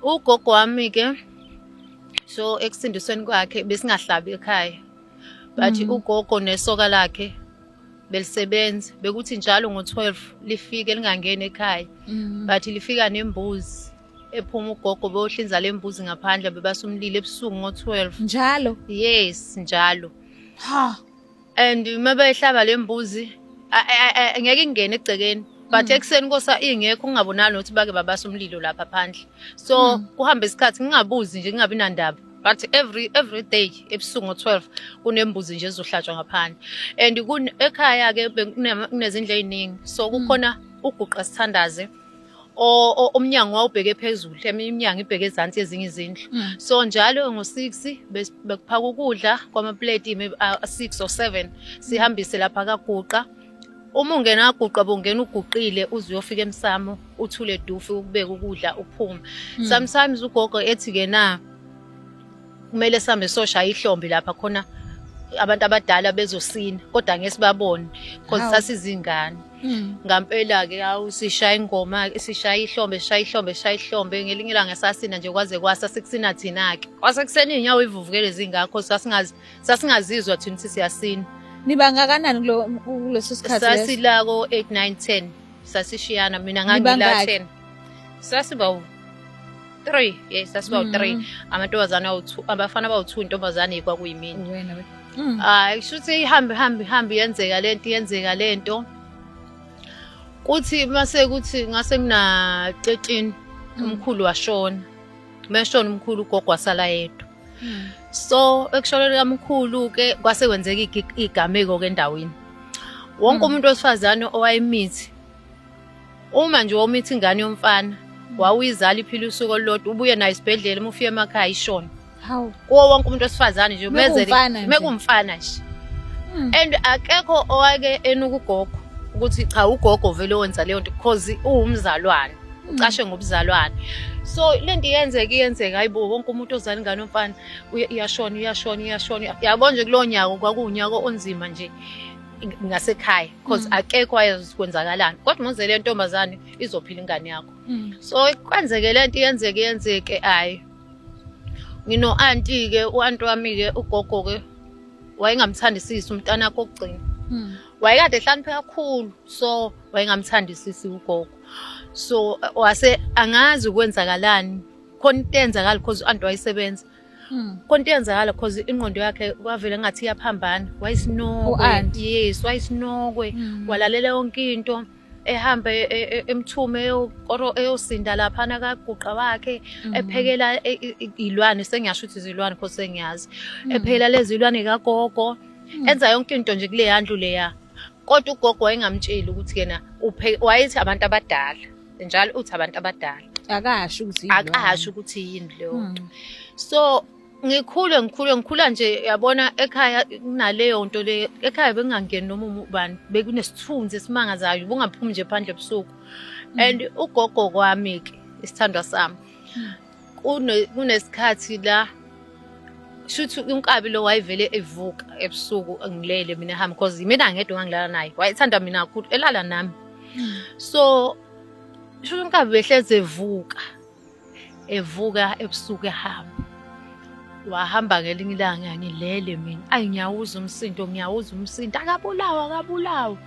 Ugogo wami ke so ekusindisweni kwakhe besingahlabi ekhaya but mm. ugogo nesoka lakhe belisebenza bekuthi njalo ngo-12 lifike lingangeni ekhaya mm. but lifika nembuzi ephuma ugogo beyohlinza le mbuzi ngaphandle bebasumlilo ebusuku ngo-12 njalo yes njalo ha and uma behlaba le mbuzi ngeke ingene egcekeni but mm. ekuseni kosa ingekho kungabonani ukuthi bake babasa umlilo lapha phandle so mm. kuhamba isikhathi ngingabuzi nje kungabi nandaba but every every day ebusuku ngo-12 kunembuzi nje ezohlatshwa ngaphandle and ekhaya-ke kunezindlu ey'ningi so mm. kukhona uguqa sithandaze umnyango wawubheke phezulu eminye iminyango ibheke ezansi ezinye izindlu mm. so njalo ngo-six bekuphaka ukudla kwamapleti six or seven sihambise lapha kaguqa uma ungena kaguqa bongena uguqile uze uyofika emsamo uthule dufu ukubeka ukudla uphume mm. sometimes ugogo ethi-ke na kumele sihambe soshaya ihlombe lapha khona abantu abadala bezosina kodwa ngeke sibabone because Hawu. sasizingane Mm. ngampela ke hawu sishaya ingoma sishaya ihlombe sishaya ihlombe sishaya ihlombe ngelinye ilanga sasina nje kwaze kwasa sikusina thina ke kwasekuseni inyawo ivuvukele zingakho sasingazi sasingazizwa thina ukuthi siyasina Niba ngakanani kulo kuleso sikhathi leso? sasila ko 8 9 10 sasishiyana mina Nibangaki? ngangila 10 sasiba 3 yes sasiba mm. u3 amantombazana awu2 abafana abawu2 intombazane kwakuyimini wena we mm. ah kushuthi ihambe hambe hambe yenzeka lento yenzeka lento kuthi mase kuthi ngase mina 13 mm. umkhulu washona meshona umkhulu ugogo wasala yedwa so ekushoneni kamkhulu ke kwase kwenzeka igameko ke endaweni wonke umuntu wesifazane owayemithi Uma nje womithi ingane yomfana wawuyizala iphila usuku olulodwa ubuye nayo isibhedlela uma ufika emakhaya ishona. Hawu. Kuwo wonke umuntu wesifazane nje mezele mekumfana nje. Hmm. And akekho owake enukugogo ukuthi cha ugogo vele wenza leyo nto because uwumzalwane. ucashe ngobuzalwane so lento iyenzeka iyenzeka hayibo wonke umuntu ozala ingane omfana iyashona iyashona iyashona yabo nje kulowo nyaka kwakuwunyaka onzima nje ngasekhaya because mm. akekho wayazi kwenzakalani kodwa muze le ntombazane izophila ingane yakho mm. so kwenzeke le nto yenzeke yenzeke hayi ngino anti ke uanti wami ke ugogo ke wayengamthandisisi umntana wakhe okugcina mm. wayekade ehlanipheka kakhulu so wayengamthandisisi ugogo so wase angazi kwenzakalani khona into enzakala because uanti wayesebenza Hmm. konto iyenzakala because ingqondo yakhe kwavele ngathi iyaphambana wayisinokwe yes wayisinokwe hmm. walalela yonke into ehambe e, e, e, emthume eyosinda laphana kaguqa wakhe hmm. ephekela ilwane sengiyasho ukuthi izilwane because sengiyazi ephekela lezi ilwane kagogo enza yonke into nje kuleya ndlu leya kodwa ugogo wayengamtsheli ukuthi yena wayethi abantu abadala njalo uthi abantu abadala akasho ukuthi akasho ukuthi yini leyo nto hmm. so ngikhule ngikhule ngikhula nje yabona ekhaya kunaleyo nto le ekhaya bekungangeni noma ubani bekunesithunzi esimangazayo bungaphumi nje phandle ebusuku hmm. and ugogo kwami ke isithandwa sami hmm. kunesikhathi la shuthi unkabi lo wayevele evuka ebusuku ngilele mina hamba because yimina ngedwa ngangilala naye wayethanda mina kakhulu elala nami hmm. so shuthi unkabi behlezi evuka evuka ebusuku ehamba wahamba ngelinye ilanga ngilele mina ayi ngiyawuza umsindo ngiyawuza umsindo akabulawa akabulawa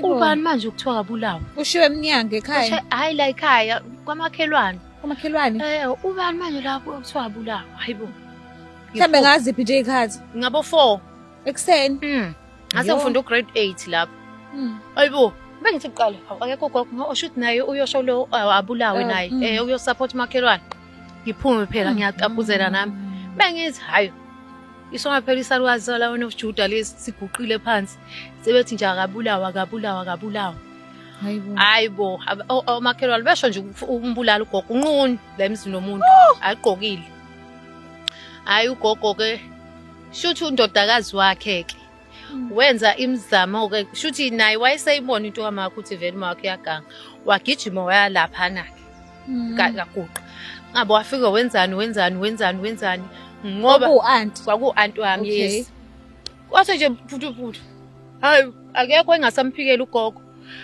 ubani manje ukuthiwa akabulawa ushiwe emnyango ekhaya hayi la ekhaya kwamakhelwane Umakhelwane. Eh ubani manje lapho okuthiwa abulawa? Hayibo. Mhlambe ngaziphi nje ikhathi? Ngabo 4 ekuseni. Mhm. Ngase ngifunda ugrade 8 lapho. Mhm. Hayibo. Bengithi kuqala akekho gogo ngo oshuthi naye uyosho lo abulawe eh, naye mm. eh uyosupport umakhelwane. Ngiphume phela mm. ngiyaqapuzela nami. Mm. Bengithi hayo isona phela isalukazi sala wena ujuda lesi siguqile phansi sebethi nje akabulawa akabulawa akabulawa hayi bo omakhelwane besho nje umbulala ugogo unqunu la emzini nomuntu oh! agqokile hayi ugogo ke shuthi undodakazi wakhe ke hmm. wenza imizamo ke shuthi naye wayeseyibona into kamakho ukuthi vele uma wakhe uyaganga wagijima wayalaphana ke hmm. kaguqa ngabe wafike wenzani wenzani wenzani wenzani ngoba kwaku-anti wami yes Kwase nje mphuthuphuthu. Hayi akekho engasamphikela ugogo.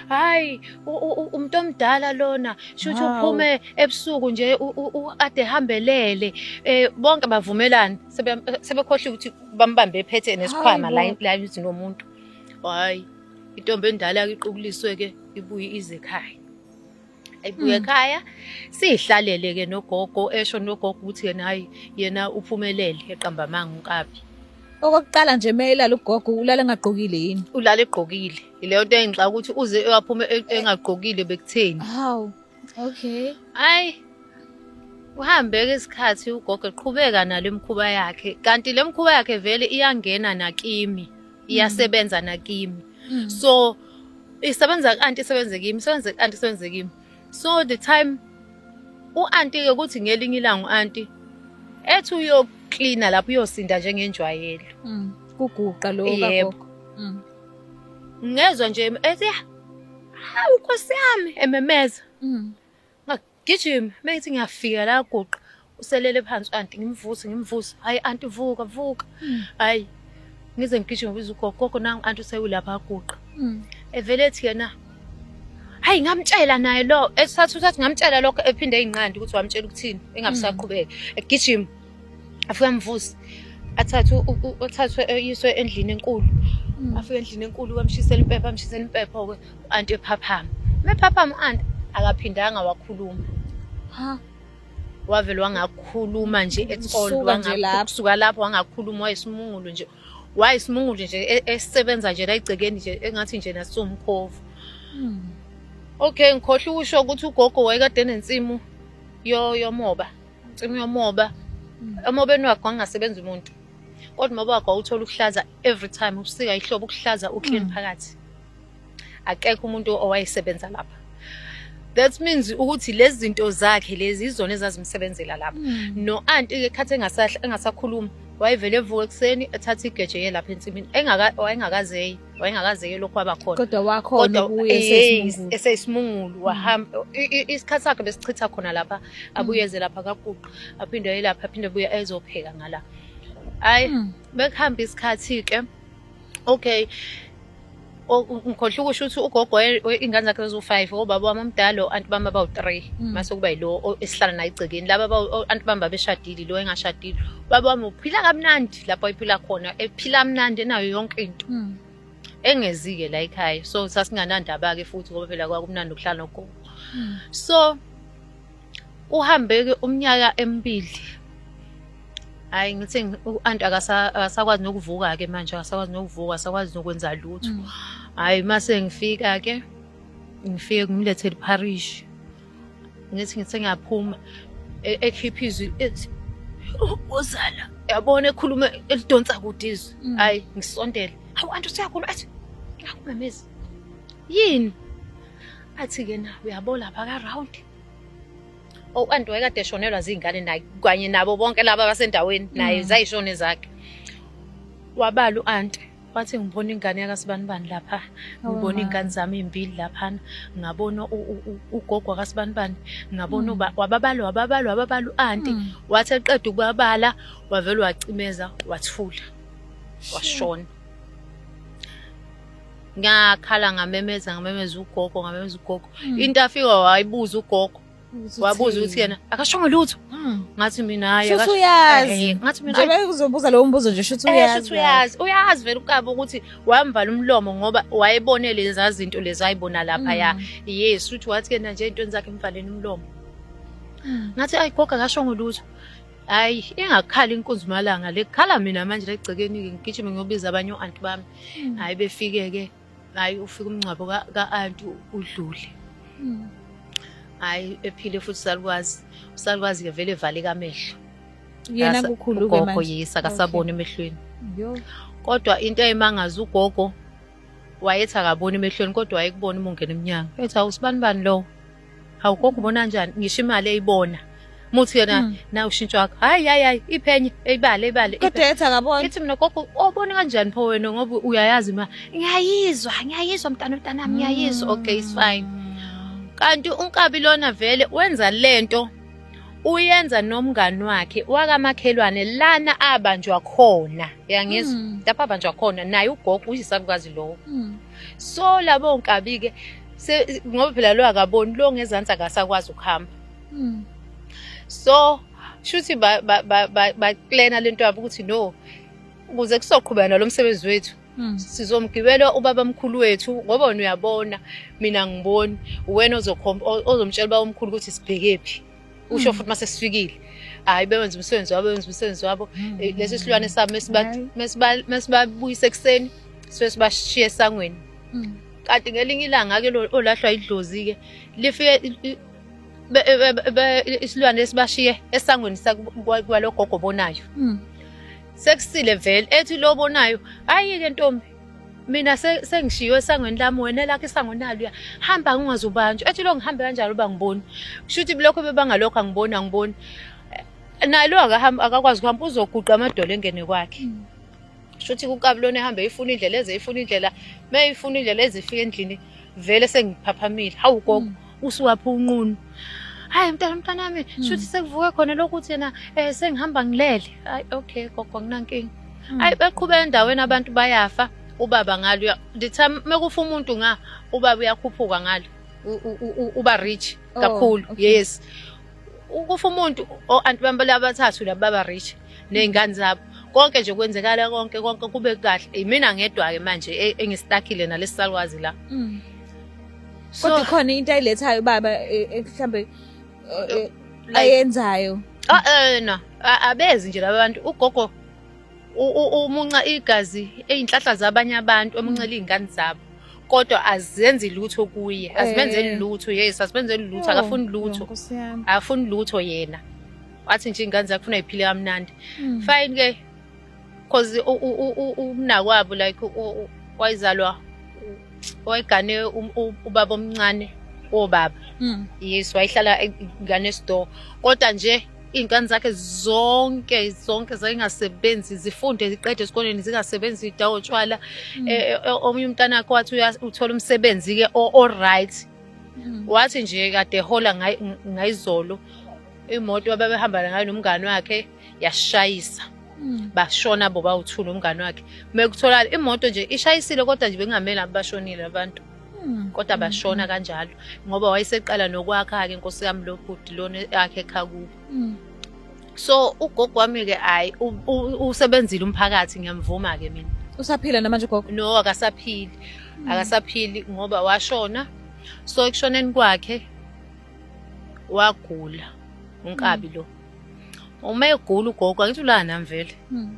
Hayi u- u- u- umuntu omdala lona shuthi Hawu. uphume ebusuku nje u- u- u- ade hambelele eh bonke bavumelana sebe- sebekhohliwe ukuthi bambambe ephethe nesikhwama la Hayibo. la emzini womuntu. Hayi intombi endala iqubuliswe ke ibuye ize ekhaya. ayibuye ekhaya sihlalele ke nogogo esho nogogo ukuthi yena hayi yena uphumelele eqamba amanga unkabi okokuqala nje mayelala ugogo ulala engagqokile yini ulala egqokile ileyo nto engixaka ukuthi uze eyaphume e- engagqokile bekutheni haw okay ayi uhambe ke isikhathi ugogo eqhubeka nale mkhuba yakhe kanti le mkhuba yakhe vele iyangena nakimi iyasebenza nakimi mm. so isebenza ku-anti isebenze kimi isebenze ku-anti isebenze kimi so the time u-anti-ke kuthi ngelinye ilanga u-anti ethi uyoklina lapho uyosinda njengenjwayelo mm. kuguqa lo yebo mm. ngezwa nje ethi hawu nkosi yami ememeza mm. gijima uma ethi ngiyafika la guqa uselele phansi anti ngimvuse ngimvuse hayi anti vuka vuka hmm. hayi ngize ngigijime biza ugogogo nangu anti usewulapha aguqa hmm. evele ethi yena hayi ngamtshela naye lo esathi usathi ngamtshela lokho ephinde eyinqandi ukuthi wamtshela ukuthini engabisaqhubeki egijima afike amvuse athathwe uthathwe eyiswe endlini enkulu mm. afike endlini enkulu bamshisela impepha amshisela impepha ke anti ephaphama mephaphama anti akaphindanga wakhuluma ha wavele wangakhuluma nje etsold wangakusuka lapho wangakhuluma wayesimungulu nje wayesimungulu nje e, esebenza nje la igcekeni nje engathi nje nasomkhovu hmm. okay ngikhohle ukusho ukuthi ugogo wayekade nensimu yomoba Cimi yomoba. Umoba enwakhe wangasebenza umuntu. Kodwa umoba wakhe wawuthola ukuhlaza every time ubusika ihlobo ukuhlaza uclean mm. phakathi. Akekho umuntu owayesebenza lapha. that means ukuthi lezi zinto zakhe lezi izona ezazimsebenzela lapha mm. no anti ke khathi engasakhuluma wayevele evuka ekuseni ethatha igeje yelapha ensimini engaka engakazeyi wayengakazeke lokhu waba khona kodwa wakhona eseyisimungulu wahamba isikhathi sakhe besichitha khona lapha abuyeze lapha kaguqa aphinde ayelapha aphinde buye ezopheka ngala hayi hmm. bekuhamba isikhathi-ke okay ngikhohle ukusho ukuthi ugogo ingane zakhe zaziwu-five obaba wami omdala o-anti bami abawu-three hmm. mase kuba yilo esihlala naye egcekeni laba anti bami babeshadile lo engashadile ubaba wami uphila kamnandi lapho ayiphila khona ephila mnandi enayo yonke into hmm. engezike la ekhaya so sasinganandaba ke futhi ngoba phela kwakumnandi ukuhlala nogogo hmm. so uhambe ke umnyaka emibili hayi ngithi u-anti akasakwazi nokuvuka ke manje akasakwazi nokuvuka akasakwazi nokwenza lutho hmm. hayi mase ngifika ke ngifike ngimlethele iparishi ngithi ngisengiyaphuma e- ekhipha izwi ethi ubozala yabona ekhuluma elidonsa kude izwi Mm. hayi ngisondele hawu anti usuyakhuluma athi ngakumemezi yini athi-ke na uyabona lapha ka-round o anti wayekade eshonelwa ziy'ngane naye kanye nabo bonke laba abasendaweni naye Mm. zayishone zakhe wabala u-anti wathi ngibona ingane yakasibanibani lapha ngibona iy'ngane zami iy'mbili laphana ngabona ugogo wakasibanibani ngabona mm. wababala wababala wababala u-anti mm. wathi eqeda ukubabala wavele wacimeza wathula washona ngakhala ngamemeza ngamemeza ugogo ngamemeza ugogo mm. into afika wayibuza ugogo wabuza ukuthi yena akashongo lutho hmm. ngathi mina hayi shuthi uyazi ngathi mina njengoba uzobuza lowo mbuzo nje shuthi eh, uyazi shuthi uyazi uyazi vele ukaba ukuthi wamvala umlomo ngoba wayebone leza zinto lezi ayibona lapha ya hmm. yes shuthi wathi ke nje into zakhe emvaleni umlomo hmm. ngathi ayi goga akashongo lutho hayi ingakhala inkunzi malanga lekhala mina manje legcekeni ngigijime ngiyobiza abanye oanti bami hayi befike ke hayi ufika umngcwabo ka-anti udlule hmm. hayi ephile futhi usalukwazi usalukwazi-ke vele evaleka amehlo yena kukhulu-ke ugogo yisa kasaboni emehlweni kodwa into eyimangaza ugogo wayethi akaboni emehlweni kodwa wayekubona uma ungena emnyango ethi awusibani bani lowo hawu konke ubona kanjani ngisho imali eyibona muthi yona Hmm. na ushintsho wakho hayi hayi hayi iphenye eyibale eyibale kodwa iphenye. ethi akabona ithi mina gogo obona kanjani pho wena ngoba uyayazi ma ngiyayizwa ngiyayizwa mntana mntanami ngiyayizwa okay it's fine kanti unkabi lona vele wenza lento uyenza nomngani wakhe wakamakhelwane lana abanjwa khona yangizwa Mm. lapho abanjwa khona naye ugogo uyisalukazi lowo Mm. so labo nkabi ke ngoba phela lo akaboni lo ngezansi akasakwazi ukuhamba hmm. so shuthi baklena lento yabo ukuthi no ukuze kusoqhubeka nalo msebenzi wethu hmm. sizomgibela ubaba mkhulu wethu ngoba wena uyabona mina ngiboni uwena ozomtshela uba umkhulu ukuthi sibhekephi usho mm. futhi uma sesifikile hayi bewenza umsebenzi wabo benza umsebenzi wabo mm. eh, lesi silwane sabo mesibabuyisa ekuseni sifike sibashiye esangweni mm. kanti ngelinye ilanga-ke olahlwa idlozi-ke lifike isilwane esibashiye esangweni kwalogogo obonayo sekusile vele ethi lo obonayo hayi-ke ntombi mina sengishiywe esangweni lami wena lakho isango naluya hamba ngingazi ubanjwa ethi lo ngihambe kanjalo uba ngiboni kusho ukuthi lokho bebangalokho angiboni angiboni eh, naye lo akakwazi kuhamba uzoguqa amadolo engene kwakhe hmm. kusho ukuthi kukabulona ehambe ifuna indlela eze ifuna indlela uma ifuna indlela ezifika endlini vele sengiphaphamile hawu gogo hmm. usuwaphi unqunu hayi mntana mntana wami hmm. shuthi sekuvuke khona lokuthi yena um sengihamba ngilele hayi okay gogo nginankinga hmm. hayi baqhuba endaweni abantu bayafa ubaba ngalo nditha mekufa umuntu nga ubaba uyakhuphuka ngalo uba rich oh, kakhulu yes ukufa umuntu o-anti bami abathathu laba baba rich ney'ngane zabo konke nje kwenzekala konke konke kube kahle imina ngedwa-ke manje e, engistakile nalesi salwazi la mm. kodwa ikhona into ayilethayo ubaba e, e, mhlambe e, ayenzayo ah, eh, no abezi nje labantu ugogo umunca igazi eyinhlahla zabanye abantu emuncela izingane zabo kodwa azenzi lutho kuye azimenzeli eh. lutho yes azimenzeli lutho akafuni lutho akafuni lutho yena wathi nje ingane zakufuna iphile kamnandi hmm. fine ke cause umnakwabo like wayizalwa wayigane ubaba omncane wobaba mm. yes wayihlala ngane store kodwa nje iy'ngane zakhe zonke zonke zayingasebenzi zifunde ziqede esikoleni zingasebenzi idawo tshwala mm. eh, eh, eh, omunye umntana wakhe wathi uthola umsebenzi-ke o-right mm. wathi nje kade hola ngayizolo imoto ababehambana ngayo nomngane wakhe yashayisa hmm. bashona bo bawuthula umngane wakhe mekutholakala imoto nje ishayisile kodwa nje bengamele abashonile abantu hmm. kodwa hmm. bashona kanjalo ngoba wayeseqala nokwakha-ke nkosi yami lo bhuti lona akhe ekhakubo so ugogo wami-ke hhayi usebenzile umphakathi ngiyamvuma-ke mina usaphila namanje ugogo no akasaphili akasaphili ngoba washona so ekushoneni kwakhe wagula unkabi mm. lo uma egula ugogo angithi ulana mvele mm.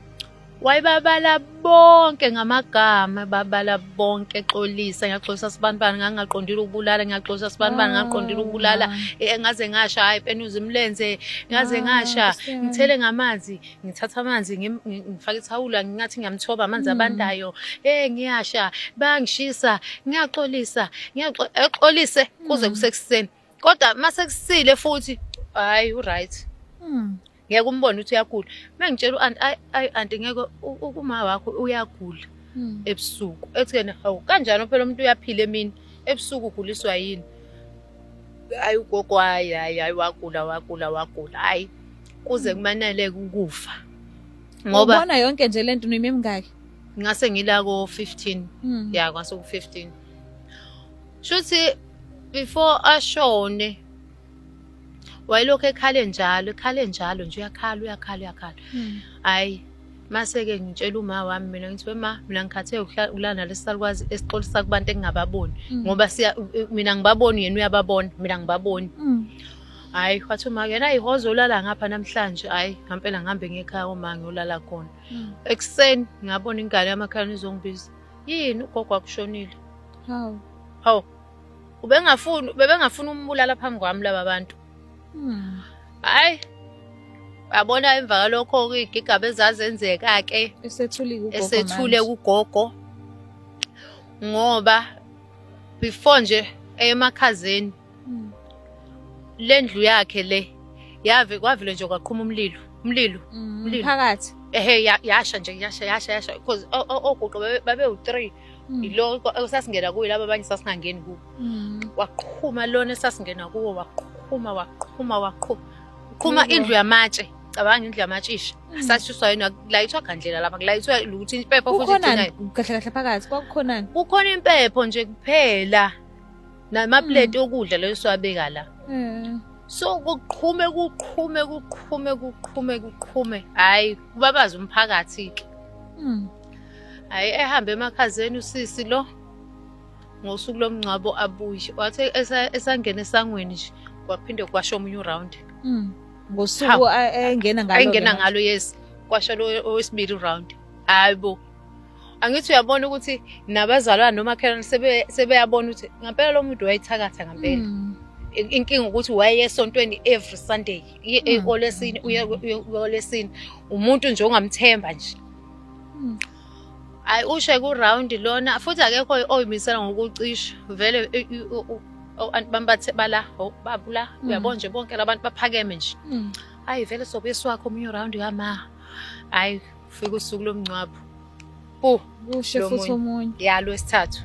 wayebabala bonke ngamagama babala bonke exolisa ngiyaxolisa sibanibani ngangaqondile ukubulala ngiyaxolisa sibanibani ngaqondile ah. ukubulala eh, ngaze ngasha hayi penuza imlenze ngaze ah, ngasha ngithele ngamanzi ngithatha amanzi ngifake ithawula ngingathi ngiyamthoba amanzi mm. abandayo eh ngiyasha bangishisa ngiyaxolisa ngiyaxolise eh, kuze mm. kusekuseni kodwa masekusile futhi hayi u right mm. ngeke umbone ukuthi uyagula mengitshela uanti ayi anti ngeke ukuma wakho uyagula ebusuku ethi yena hawu kanjani phela umuntu uyaphila emini ebusuku uguliswa yini ayi ugogo hayi hayi hayi wagula wagula wagula hayi kuze kumaneleke ukufa ngoba ubona yonke nje lento nimi emingaki ngase ngila ko 15 mm. ya kwase ku 15 shuthi before ashone wayelokhu ekhale njalo ekhale njalo nje uyakhala uyakhala uyakhala hmm. hayi mm. Mase-ke ngitshela uma wami mina ngithi wema mina ngikhathe ukulala nalesi salukwazi esixolisa kubantu engingababoni mm. ngoba siya mina ngibaboni yena uyababona mina ngibaboni mm. hayi wathi uma yena ihozo ulala ngapha namhlanje hayi ngampela ngihambe ngekhaya uma ngiyolala khona mm. ekuseni ngabona ingane yamakhalane izongibiza yini ugogo akushonile hawu hawu ubengafuni bebengafuni umbulala phambi kwami laba bantu hayi uyabona emva kalokho-ke iy'gigaba ezazenzeka-ke esethule kugogo ngoba before nje emakhazeni hmm. le ndlu yakhe le yave kwavele nje kwaqhuma umlilo umlilo hmm, umlilo phakathi ehe yasha nje yasha yasha yasha because ogogo babewuthree Mm. yilo esasingena kuyo laba abanye sasingangeni kuwo mm. waqhuma lona esasingena kuwo waqhuma waqhuma waqhuma uqhuma indlu yamatshe cabanga indlu yamatshe isha mm. sasuswa yena kulayithwa gandlela lapha kulayithwa ukuthi impepho futhi kahle kahle phakathi kwakukhonani kukhona impepho nje kuphela namaplate okudla leyo siwabeka la so kuqhume kuqhume kuqhume kuqhume kuqhume hayi kubabaza umphakathi ke hayi ehambe emakhazeni usisi lo ngosuku lomngcwabo abuye wathi esangena esangweni nje kwaphinde kwasho omunye uround mm. ngosuku engena ngalo engena ngalo yes kwasho lo owesibili uround hayi bo angithi uyabona ukuthi nabazalwana nomakhelwane sebeyabona ukuthi ngampela lo muntu wayithakatha ngampela mm. inkinga ukuthi waye esontweni every sunday mm. olesini uye olesini umuntu nje ongamthemba nje Hmm. Hayi ushe ku round lona futhi akekho oyimisela ngokucisha vele abantu bambathe bala babula hmm. uyabona nje bonke labantu baphakeme nje. Hmm. Hayi vele sobisi wakho omunye round kama. Hayi fika usuku lomncwabo. Bu ushe futhi omunye. Ya lo sithathu.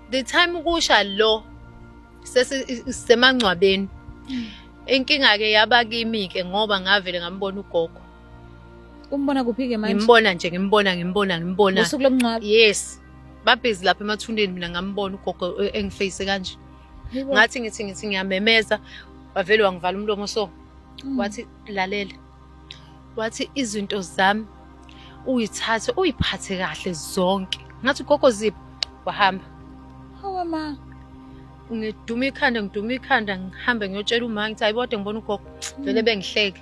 The time kusha lo sesemangcwabeni. Inkinga ke yaba kimi ke ngoba ngavele ngambona ugogo. umbona kuphi-ke manje ngimbona nje ngimbona ngimbona ngimbona usuku lomngcwabo yes babhizi lapha emathundeni mina ngambona ugogo eh, engifeyise kanje ngathi ngithi ngithi ngiyamemeza wavele wangivala umlomo so mm. wathi lalela wathi izinto zami uyithathe uyiphathe kahle zonke ngathi ugogo ziphi wahamba hawa ma ngiduma ikhanda ngiduma ikhanda ngihambe ngiyotshela uma ngithi ayibode ngibona ugogo vele bengihleke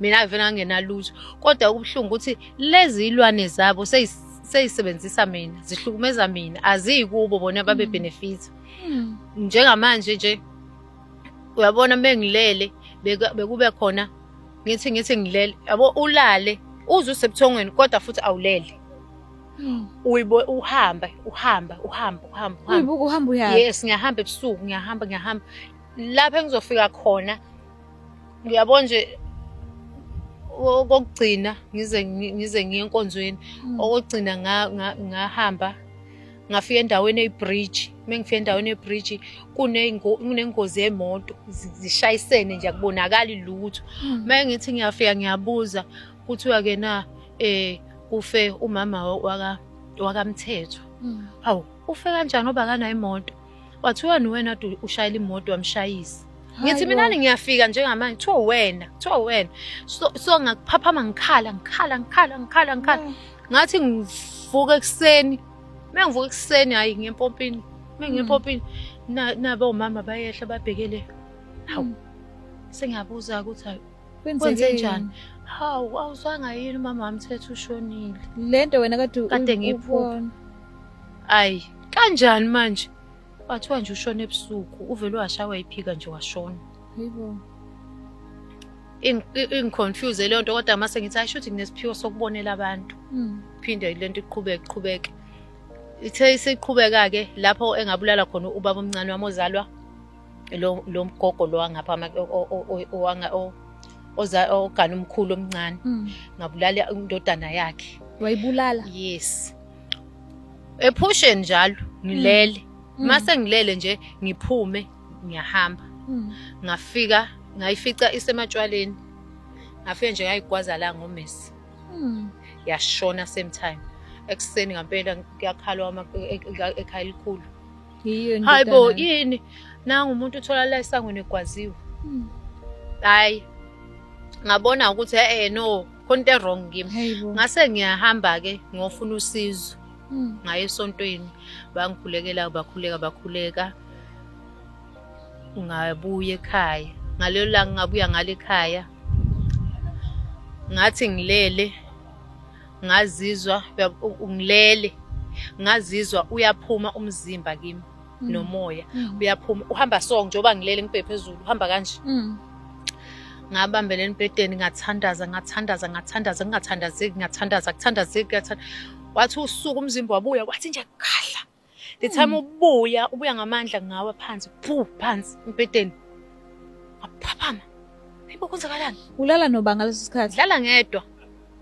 mina vele angenalutho kodwa okubuhlungu ukuthi lezi ilwane zabo seyisebenzisa mina zihlukumeza mina aziyi kubo bona babe hmm. benefit hmm. njengamanje nje uyabona mengilele bekube khona ngithi ngithi ngilele yabo ulale uze usebuthongweni kodwa futhi awulele hmm. uyibo uhamba uhamba uhamba uhamba uyibuka uhamba uyaphi yes ngiyahamba ebusuku ngiyahamba ngiyahamba lapha engizofika khona Ngiyabona nje okokugcina ngize ngize ngiye enkonzweni mm. okugcina ngahamba ngafika endaweni eyibridge uma ngifika endaweni eyibridge kunengozi yemoto zishayisene nje akubonakali lutho uma mm. ngithi ngiyafika ngiyabuza kuthiwa ke na eh kufe umama waka wakamthethwa mm. hawu ufe kanjani obakana imoto Wathiwa niwena du ushayela imoto wamshayisa. Ngithi mina ngiyafika njengamanje kuthiwa wena, kuthiwa wena. So, so ngakuphaphama ngikhala, ngikhala, ngikhala, ngikhala, ngikhala. Mm. Ngathi ngivuka ekuseni. Mengivuka ekuseni hayi ngempompini. Mengempompini mm. nabo mama bayehla babhekele. Hawu. Mm. Sengiyabuza ukuthi Kwenzeke njani? Hawu, awuzwanga yini umama wami thethe ushonile. Lento wena kade kade ngiyiphupha. Ayi, kanjani manje? Wathiwa nje ushona ebusuku, uvele washawa iphika nje washona. Yebo. ingiconfuse leyo nto kodwa mase ngithi ayisho ukuthi nginesiphiwo sokubonela abantu hmm. phinde le nto iqhubeke iqhubeke ithe isiqhubeka-ke lapho engabulala khona ubaba omncane wami ozalwa lo lo mgogo lo wangapha owanga oza ogana umkhulu omncane hmm. ngabulala indodana yakhe wayibulala yes ephusheni njalo ngilele hmm. mase hmm. ngilele nje ngiphume ngiyahamba ngafika ngayifica isematshwaleni ngafike nje ngayigwaza la ngomesi yashona same time ekuseni ngampela kuyakhalwa ekhaya elikhulu hayi bo yini nangu umuntu utholala esangweni egwaziwe hmm. hayi ngabona ukuthi e-e no khona into e-wrong kimi ngase ngiyahamba-ke ngiyofuna usizo hmm. ngaye esontweni bangikhulekela bakhuleka bakhuleka ngabuya ekhaya ngalelo langa ngabuya ngale ekhaya ngathi ngilele ngazizwa ngilele ngazizwa uyaphuma umzimba kimi mm. nomoya mm. uyaphuma uhamba so njengoba ngilele ngibhe phezulu uhamba kanje mm. ngabambela embhedeni ngathandaza ngathandaza ngathandaza ngingathandazeki ngathandaza kuthandazeki wathi usuku umzimba wabuya kwathi nje khahla the time hmm. ubuya ubuya ngamandla ngawa phansi phu phansi umpeteni aphaphama Hayibo kwenzakalani? Ulala noba ngaleso sikhathi? Dlala ngedwa.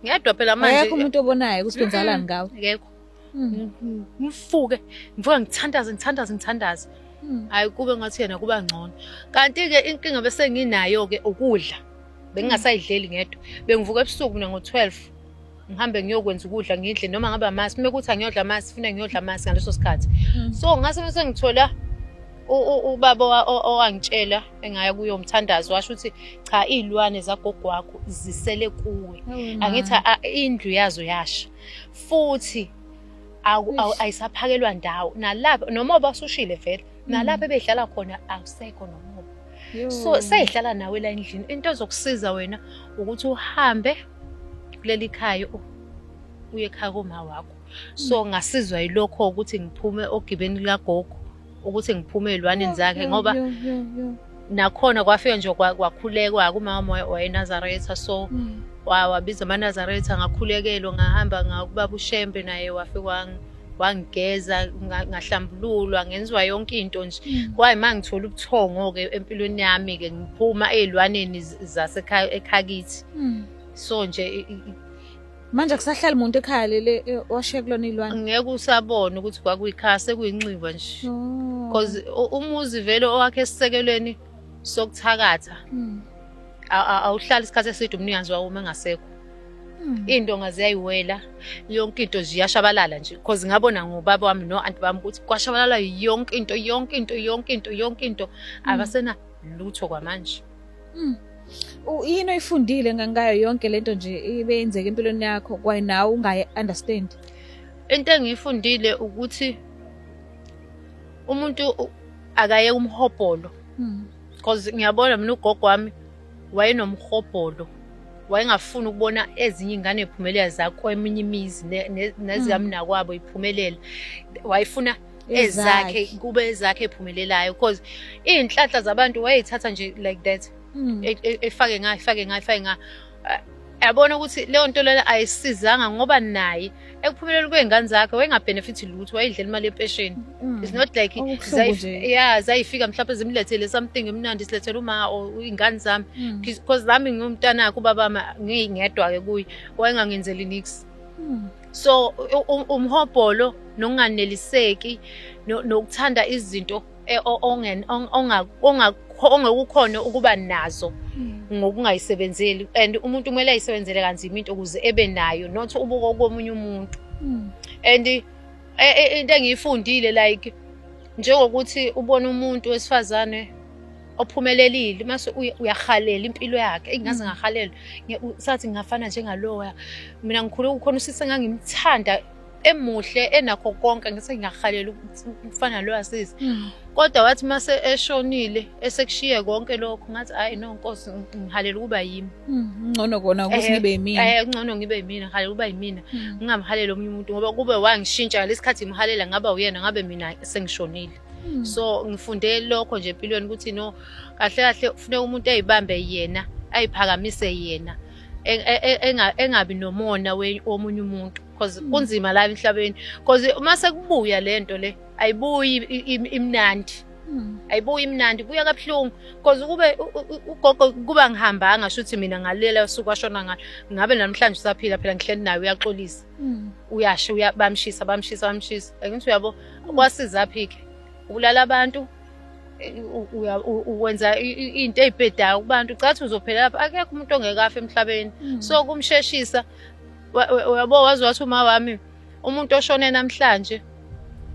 Ngedwa phela manje. Akekho umuntu obonayo ukuthi kwenzakalani ngawe. Akekho. Hmm. Ngifuke, ngivuka ngithandaze, ngithandaze, ngithandaze. Hmm. Hayi kube ngathi yena kuba ngcono. Kanti ke inkinga bese nginayo ke ukudla. Bengingasayidleli ngedwa. Bengivuka ebusuku mina ngo-12. ngihambe ngiyokwenza ukudla ngidle noma ngabe amasi uma kuthi angiyodla amasi funa ngiyodla amasi ngaleso sikhathi mm. so ngase bese ngithola ubaba owangitshela engaya kuyo umthandazo washo ukuthi cha iy'lwane zagogo wakho zisele kuwe oh, angithi indlu yazo yasha futhi ayisaphakelwa ndawo nalapho noma obasushile vele nalapho mm. ebehlala khona akusekho noma so seyihlala nawe la endlini into ezokusiza wena ukuthi uhambe kuleli khaya oh, uye ekhaya koma wakho so mm. ngasizwa yilokho ukuthi ngiphume ogibeni likagogo ukuthi ngiphume ezilwaneni zakhe ngoba nakhona kwafika nje kwakhulekwa kumama wayenazaretha so mm. wabiza amanazaretha ngakhulekelwa ngahamba ngakubaba ushembe naye wafike wangigeza ngahlambululwa ngenziwa yonke into nje mm. kwaye uma ngithola ubuthongo-ke empilweni yami-ke ngiphuma ey'lwaneni zasekhakithi mm. so nje manje kusahlala umuntu ekhaya lele e, washiye kulona iy'lwane ngeke usabone ukuthi kwakuyikhaya sekuyinxiwa nje because oh. umuzi vele owakhe esisekelweni sokuthakatha mm. awuhlali isikhathi eside umnikazi wawo uma engasekho Hmm. into ngaziyayiwela yonke into ziyashabalala nje cause ngabona ngobaba wami no anti bami ukuthi kwashabalala yonke into yonke into yonke into yonke into hmm. abasena lutho kwamanje hmm. yini oyifundile ngangayo yonke lento nje ibeyenzeka empilweni yakho kwaye nawe ungayi understand into engiyifundile ukuthi umuntu akaye umhobholo cause ngiyabona mina ugogo wami wayenomhobholo wayengafuni ukubona ezinye ingane iphumelela zakweminye imizi nezikamnakwabo hmm. iphumelela wayefuna ezakhe kube ezakhe ephumelelayo because iy'nhlanhla zabantu wayeyithatha nje like that hmm. e, e, efake nga efake nga efake nga yabona ukuthi leyo nto lena ayisizanga ngoba naye ekuphumeleleni kwey'ngane zakhe wayengabhenefithi lutho wayedlela imali yempesheni mm. it's not like ya zayifika mhlawumpe zimlethele something emnandi silethele uma or iy'ngane zami mm. because nami ngiwumntanakhe ubabama ngingedwa-ke kuye wayengangenzeli nix mm. so umhobholo nokunganeliseki nokuthanda izinto e, ongekukhona ukuba nazo hmm. ngokungayisebenzeli and umuntu kumele ayisebenzele kanzima into ukuze ebe nayo not ubuko komunye umuntu hmm. and e, e, into engiyifundile like njengokuthi ubona umuntu wesifazane ophumelelile mase uyahalela impilo yakhe engingaze mm. ngahalela sathi ngingafana njengaloya mina ngikhule kukhona usisi engangimthanda emuhle enakho konke ngithi ngiyahalela ukufana lo asisi mm. kodwa wathi mase eshonile esekushiye konke lokho ngathi hayi no nkosi ngihalela ukuba yimi mm, ngcono kona ukuthi eh, ngibe yimina eh ngcono ngibe yimina ngihalela ukuba yimina mm. ngingamhalela omunye umuntu ngoba kube wangishintsha lesikhathi ngihalela ngaba uyena ngabe mina sengishonile so ngifunde lokho nje empilweni ukuthi no kahle kahle kufuneka umuntu eyibambe yena ayiphakamise yena e, e, e, engabi nomona womunye umuntu cause mm. kunzima la emhlabeni cause uma sekubuya lento le ayibuyi imnandi mm. ayibuyi imnandi buya kabuhlungu cause ukube ugogo kuba ngihambanga shuthi mina ngalela usuku ashona ngalo ngabe namhlanje usaphila phela ngihleli naye uyaxolisa mm. uyasho bamshisa bamshisa bamshisa angithi uyabo kwasiza phike ubulala abantu wenza into eyibhedayo kubantu cathi uzophelela lapha akekho umuntu ongekafi emhlabeni so kumsheshisa uyabo wazi wathi uma wami umuntu oshone namhlanje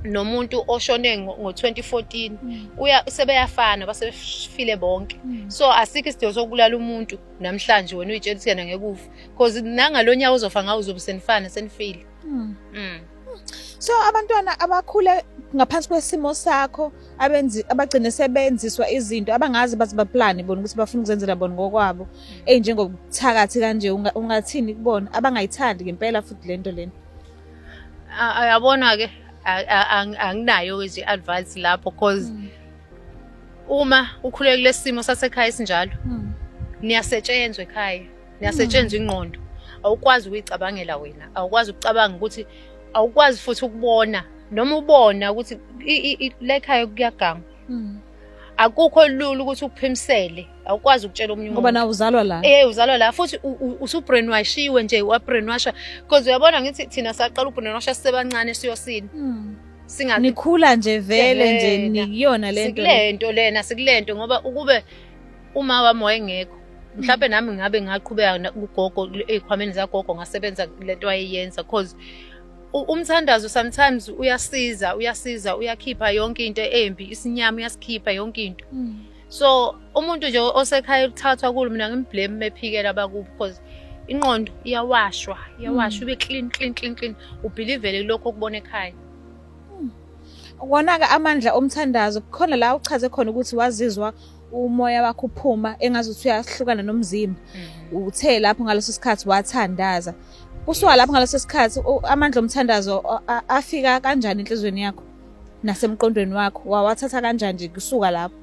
nomuntu oshone ngo-2014 mm. uya sebeyafana basefile bonke mm. so asikho isidingo sokubulala umuntu namhlanje wena uyitshela ukuthi yena ngekufa because nangalonyawo uzofa ngawo uzobe senifana senifile mm. mm. so abantwana abakhule ngaphansi kwesimo sakho abenzi abagcine sebenziswa izinto abangazi bathi baplane bona ukuthi bafuna ukuzenzela bona ngokwabo eyinjengokuthakathi kanje ungathini kubona abangayithandi ngempela futhi lento lena ayabona ke anginayo nje advice lapho cause hmm. uma ukhulekile simo sasekhaya sinjalo hmm. niyasetshenzwa ekhaya niyasetshenzwa ingqondo awukwazi ukuyicabangela wena awukwazi ukucabanga ukuthi awukwazi futhi ukubona noma ubona ukuthi lekhaya kuyagangwa hmm. akukho lula ukuthi ukuphimisele awukwazi ukutshela omunye ngoba nawe uzalwa la eh uzalwa la futhi usubrainwashiwe nje wabrainwasha because uyabona ngithi thina saqala ubrainwasha sisebancane siyosini hmm. singathi nikhula nje vele nje nikuyona lento lento lena sikulento ngoba ukube uma wami wayengekho mhlawumbe nami ngabe ngaqhubeka na- kugogo ey'khwameni zagogo ngasebenza le nto wayeyenza cause u- umthandazo sometimes uyasiza uyasiza uyakhipha yonke into embi isinyama uyasikhipha yonke into so umuntu nje osekhaya uthathwa kulo mina ngimblame mephikela abakubo because inqondo iyawashwa iyawashwa ibe clean clean clean clean ubhilivele kulokho okubona ekhaya Wona-ke amandla omthandazo kukhona la uchaze khona ukuthi wazizwa umoya wakho uphuma engazuthi uyahlukana nomzimba mhm. uthe lapho ngaleso sikhathi wathandaza kusuka lapho ngaleso sikhathi amandla omthandazo afika kanjani enhlizweni yakho nasemqondweni wakho wawathatha kanjani nje kusuka lapho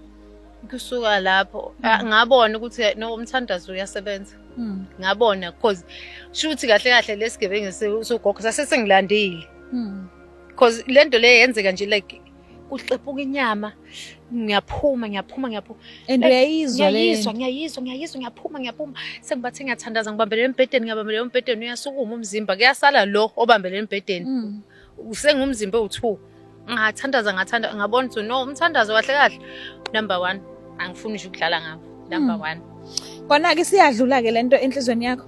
kusuka lapho mhm. ngabona ukuthi no umthandazo uyasebenza mhm. ngabona because shuthi kahle kahle lesigebengu sogogo sase sengilandile because lento le yenzeka nje like kuxepuka inyama ngiyaphuma ngiyaphuma ngiyaphuma and uyayizwa le ngiyayizwa ngiyayizwa ngiyayizwa ngiyaphuma ngiyaphuma sengibathi ngiyathandaza ngibambelele embhedeni ngibambelele embhedeni uyasukuma umzimba kuyasala lo obambelele embhedeni mm. usengumzimba owu-2 ngathandaza ngathanda ngabona ukuthi no umthandazo kahle kahle number 1 angifuni nje ukudlala ngabo number 1 mm. kona-ke siyadlula-ke le nto enhlizweni yakho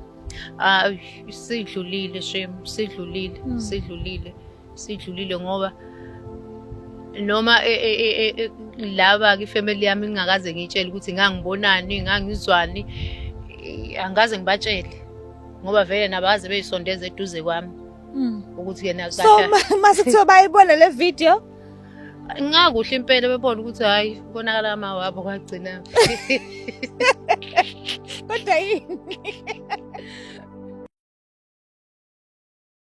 ah sidlulile shem sidlulile mm. sidlulile sidlulile ngoba noma e, e, e, laba ke family yami ngingakaze ngitshele ukuthi ngangibonani ngangizwani angaze ngibatshele ngoba vele nabaze beyisondeza eduze kwami hmm. ukuthi yena so mase kuthiwa bayibona le video ngakuhle impela bebona ukuthi hayi konakala ama wabo kwagcina kodwa yini